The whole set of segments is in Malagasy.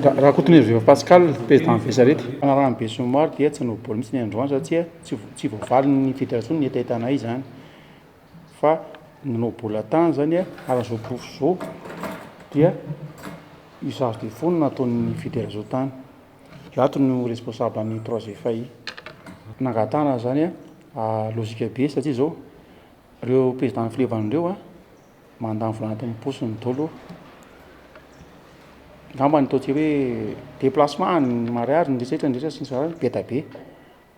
Rakotoniriveva Pascal, Président Vesarety, fanarahan'ny besinimaro dia tsy novoabory mihitsy ny androany satsia tsy voavalin'ny Fédération ny hetahetanay izany fa nanao bola tany izany ary izao porofo izao dia usage de fonds no nataon'ny Fédération tany. Izato no responsable ny projet FAI. Nangatahana izany logique be satsia izao ireo président filevan'ireo Mandany vola anatin'ny poso ny dolo. Angamba ny ataontsika hoe déplacement any ny mariage ny resetra ny resetra sy ny sasany be dia be.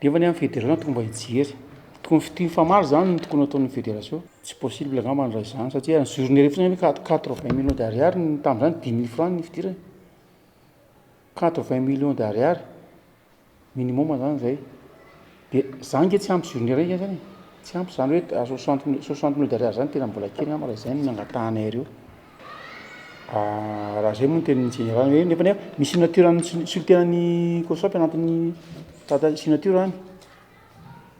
Nefa ny an'ny federasiona tokony mba hijery. Tokony fitia mifamaly zany no tokony ataon'ny federasiona. Tsy possible angamba ny raha izany satria ny jour niry fotsiny anie quatre vingt millions d'ariary ny tamin'izany dimy mille francs ny fidirana. Quatre vingt millions d'ariary. Minimum zany zay. De za ange tsy ampy journée raiky zany e. Tsy ampy zany hoe à 60 minutes, 60 minutes d'arrière zany tena mbola kely ngamba raha izay no nangatahanay reo. Ah, raha zay moa ny tenin'ny général hoe nefa nefa misy signature an'ny sul- sultenan'ny Cosop anatin'ny tata- signature any.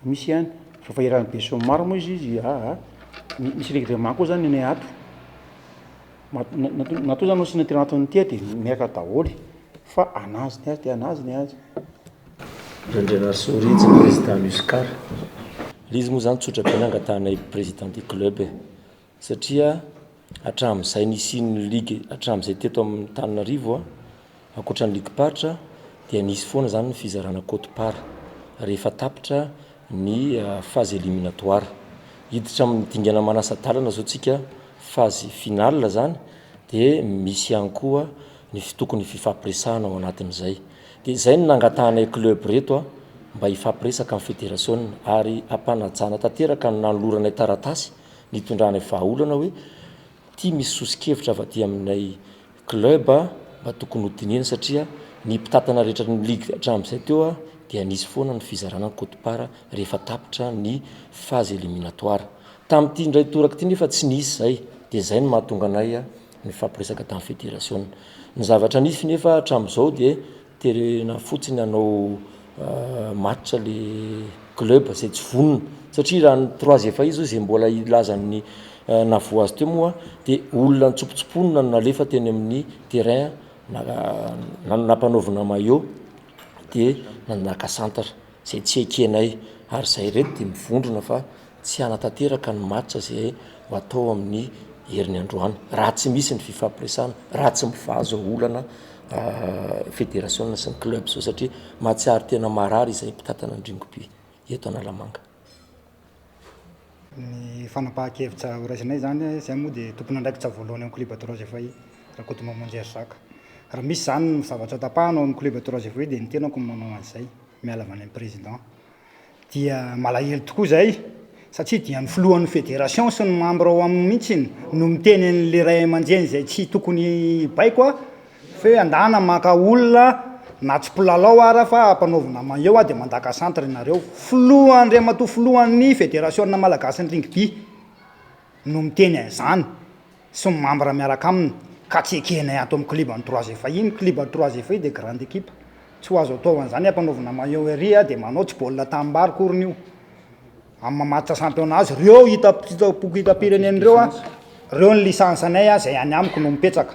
Misy ihany fa efa iarahan'i Besson maro moa izy izy aa misy règlement koa zany nenay ato ma- na- na- na toa zany no signature anatiny ity de miaraka daholo fa anazy ny azy de anazy ny azy Randrianarisoa Rija président Muscar. Lé izy moa zany tsotra be nangatahanay président du club e. satria hatramin'izay nisian'ny ligue hatramin'izay teto amin'ny Antananarivo a, ankoatra ny ligim-paritra dia nisy foana zany ny fizarana quote part rehefa tapitra ny phase eliminatoire. Hiditra amin'ny dingana manasa-dalana zao tsika phase finale zany de misy ihany koa ny fi- tokony fifampiresahana ao anatin'izay. De zay no nangatahanay club reto a mba hifampiresaka amin'ny federasiona ary hampanajana tanteraka ny nanoloranay taratasy Nitondrany vahaolana hoe ity misy soso-kevitra avy aty aminay club mba tokony ho dinihina satria ny mpitantana rehetra ny ligue hatramin'izay teo dia nisy foana ny fizarana ny cote part rehefa tapitra ny phase eliminatoire. Tamin'ity indray toraka ity nefa tsy nisy izay dia izay no mahatonga anay nifampiresaka tamin'ny federasiona. Ny zavatra nisy nefa hatramin'izao dia terena fotsiny hanao match ilay club izay tsy vonona satria raha ny trois efa izy hoy izay mbola hilaza ny nahavoa azy teo moa dia olona nitsopitsopona no nalefa teny amin'ny terrain nampanaovina maillot dia naka santatra izay tsy ekenay ary izay ireto dia mivondrona fa tsy hanatanteraka ny match izay ho atao amin'ny herin'ny androany raha tsy misy ny fifampiresahana, raha tsy mivazo olana federasiona sy ny club zao satria mahatsiaro tena marary izay mpitantana ny Dringobia eto Analamanga. Ny fanapahan-kevitra horaisinay izany, izahay moa dia tompon'andraikitra voalohany amin'ny club Trois Étoiles, Rakotomamonjy Herizaka. Raha misy izany ny zavatra tapahana ao amin'ny club Trois Étoiles dia ny tenako no manao an'izay, miala avy any amin'ny président. dia malahelo tokoa izahay satria dia ny filohan'ny fédération sy ny membre ao aminy mihitsy no miteny an'ilay ray aman-dreny izay tsy tokony hibaiko aho fa hoe andana maka olona na tsy mpilalao ara fa ampanaovina maillot aho dia mandaka centre ianareo, filoha Andriamatoa filohan'ny fédération malagasy ny rugby no miteny an'izany. sy ny mambra miaraka aminy ka tsy ekehinay ato amin'ny kliban'ny Trois Effets. Iny kliban'ny Trois Effets dia grande équipe. Tsy ho azo ataovana izany hampanaovina maillot ery dia manao tsy baolina tanimbary akoriny io. Amin'ny mamatitra championnat azy, ireo hita boky hitam-pirenena ireo, ireo ny licence-nay izay any amiko no mipetraka.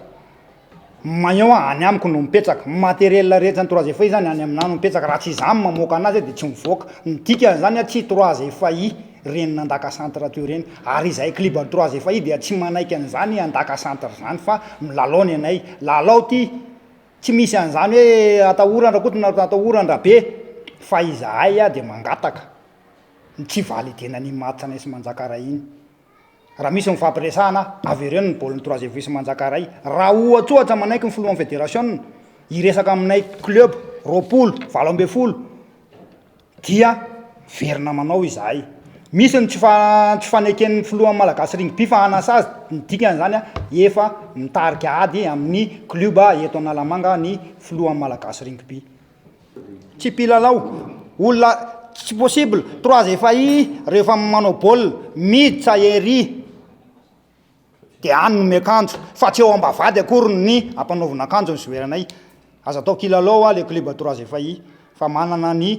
Maillon any amiko no mipetraka. Ny matériel rehetra ny trois effets zany any aminah no mipetraka. Raha tsy izaho no mamoaka anazy dia tsy mivoaka. Ny dikany zany a tsy trois effets reny nandaka centre teo reny. Ary izahay clib trois effets dia tsy manaiky an'izany handaka centre zany fa milalao ny anay. Lalao ty. Tsy misy an'izany hoe atahoran-dRakoto na atahoran-dRabe. Fa izahay dia mangataka ny tsy validenan'iny match anay sy manjaka ray iny. Raha misy nifampiresahana avy ireo ny baolin'ny troisième vice manjaka iray, raha ohatsohatra manaiky ny filohan'ny federasiona hiresaka aminay club roapolo, valo ambin'ny folo dia miverina manao izahay. Misy ny tsy tsy faneken'ny filohan'ny Malagasy Rugby fa hanasazy, ny dikan'izany efa mitarika ady amin'ny klioba eto Analamanga ny filohan'ny Malagasy Rugby. Tsy mpilalao, olona tsy possible, trois efa i rehefa manao bol, mid sa ery de any no miakanjo fa tsy eo ambavady akory ny ampanaovina akanjo ny joueur-nay, aza atao kilalao hoa le club trois efa i fa manana ny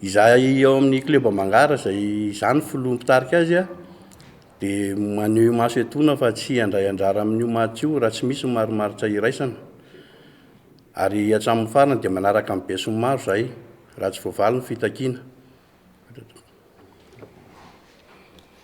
Izahay ao amin'ny Club Ambangara izay izaho no filoha mpitarika azy a, dia maneho imaso etoana fa tsy handray anjara amin'io match io raha tsy misy ny marimaritra iraisana. Ary hatramin'ny farany dia manaraka amin'ny besinimaro izahay raha tsy voavaly ny fitakiana.